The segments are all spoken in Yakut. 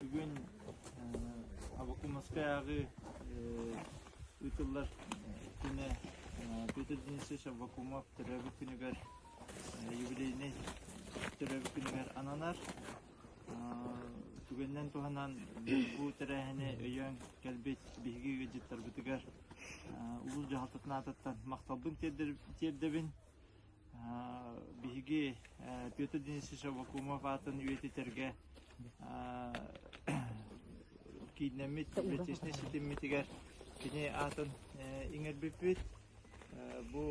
бүгүн Авакумовскаяҕы ыытыллар күнэ Петр Денисович Авакумов төрөөбүт күнүгэр юбилейнай төрөөбүт күнүгэр ананар түгэнинэн туһанан бу тэрээһини өйөөн кэлбит биһиги ыалдьыттарбытыгар улуус дьаһалтатын аатыттан махталбын тиэрдэбин Биһиги Петр Денисович Аввакумов аатын үйэтитэргэ кииннэммит бэттиэснэй ситиммитигэр кини аатын иҥэрбиппит. Бу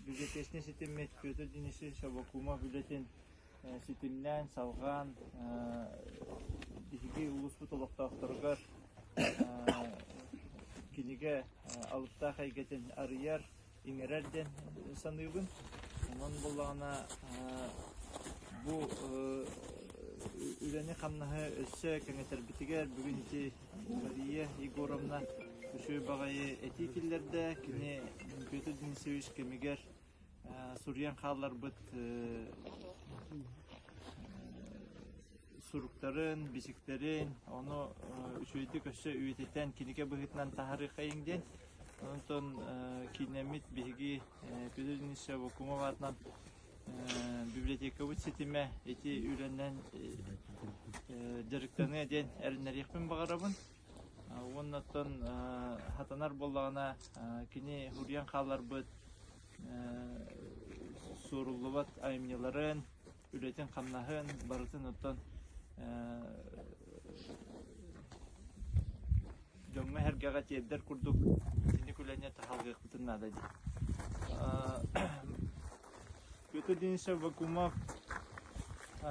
бюджетиэснэй ситиммит Петр Денисович Аввакумов үлэтин ситимнээн, салҕаан биһиги улууспут олохтоохторугар кинигэ алыптаах эйгэтин арыйар иҥэрэр диэн саныыбын. Онон буоллаҕына бу үлэни-хамнаһы өссө кэҥэтэрбитигэр бүгүн ити Мария Егоровна үчүгэй баҕайы этии киллэрдэ. Кини Петр Денисович кэмигэр суруйан хаалларбыт суруктарын, бичиктэрин, ону үчүгэйдик өссө үйэтитэн, кинигэ быһыытынан таһарыахайыҥ диэн Онтон киинэммит биһиги Петрина Севакумова аатынан библиотекабыт ситимэ ити үлэнэн дьарыктаныа диэн эрэнэриэхпин баҕарабын. Уонна оттон сатанар буоллаҕына кини суруйан хаалларбыт суоруллубат айымньыларын үлэтин-хамнаһын барытын оттон дьоҥҥо-эһэргэҕэ тиэрдэр курдук итинник үлэни таһалҕыахпытын наада дии. Петр Денисов Вакумов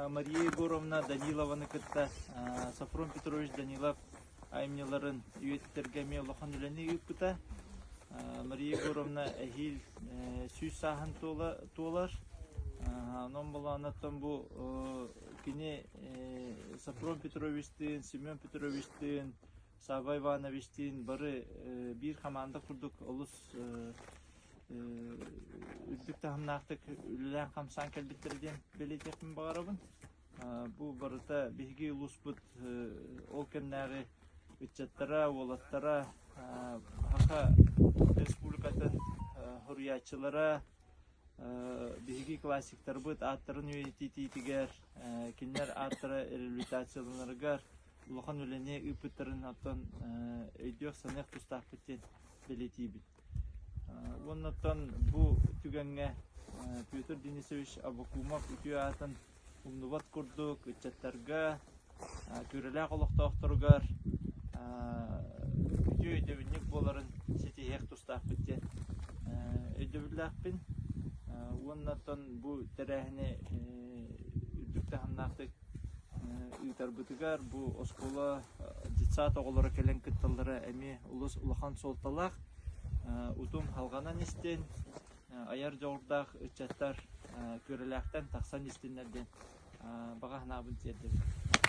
Мария Егоровна Данилованы кытта Сафрон Петрович Данилов айымньыларын үйэтитэргэ эмиэ улахан үлэни ыыппыта. Мария Егоровна эһиил сүүс сааһын туолар. Онон болаанаттан бу кини Сапром Петровичтыын, Семен Петровичтыын, Савва Ивановичтыын бары биир хамаанда курдук олус үрдүк таһымнаахтык үлэлээн-хамсаан кэлбиттэрэ диэн бэлиэтиэхпин баҕарабын. Бу барыта биһиги улууспут ол кэмнээҕи ыччаттара, уолаттара, саха республикатын суруйааччылара, биһиги классиктарбыт ааттарын үйэтитиитигэр, кинилэр ааттара реабилитацияланарыгар улахан үлэни ыыппыттарын оттон өйдүөх-саныах тустаахпыт диэн бэлиэтиибит. Уоннаттан бу түгэҥҥэ Петр Денисович Абакумов үтүө аатын умнубат курдук ыччаттарга, Күөрэлээх олохтоохторугар үтүө өйдөбүнньүк буоларын ситиһиэх тустаахпыт диэн өйдөбүллээхпин. Уоннаттан бу тэрээһини үрдүк таһымнаахтык ыытарбытыгар бу оскуола детсад оҕолоро кэлэн кытталлара эмиэ олус улахан суолталаах. утум халҕанан истин, айар дьоҕурдаах ыччаттар күөрэлээхтэн тахсан истиннэр диэн баҕа санаабын тиэрдэбин. Махтал.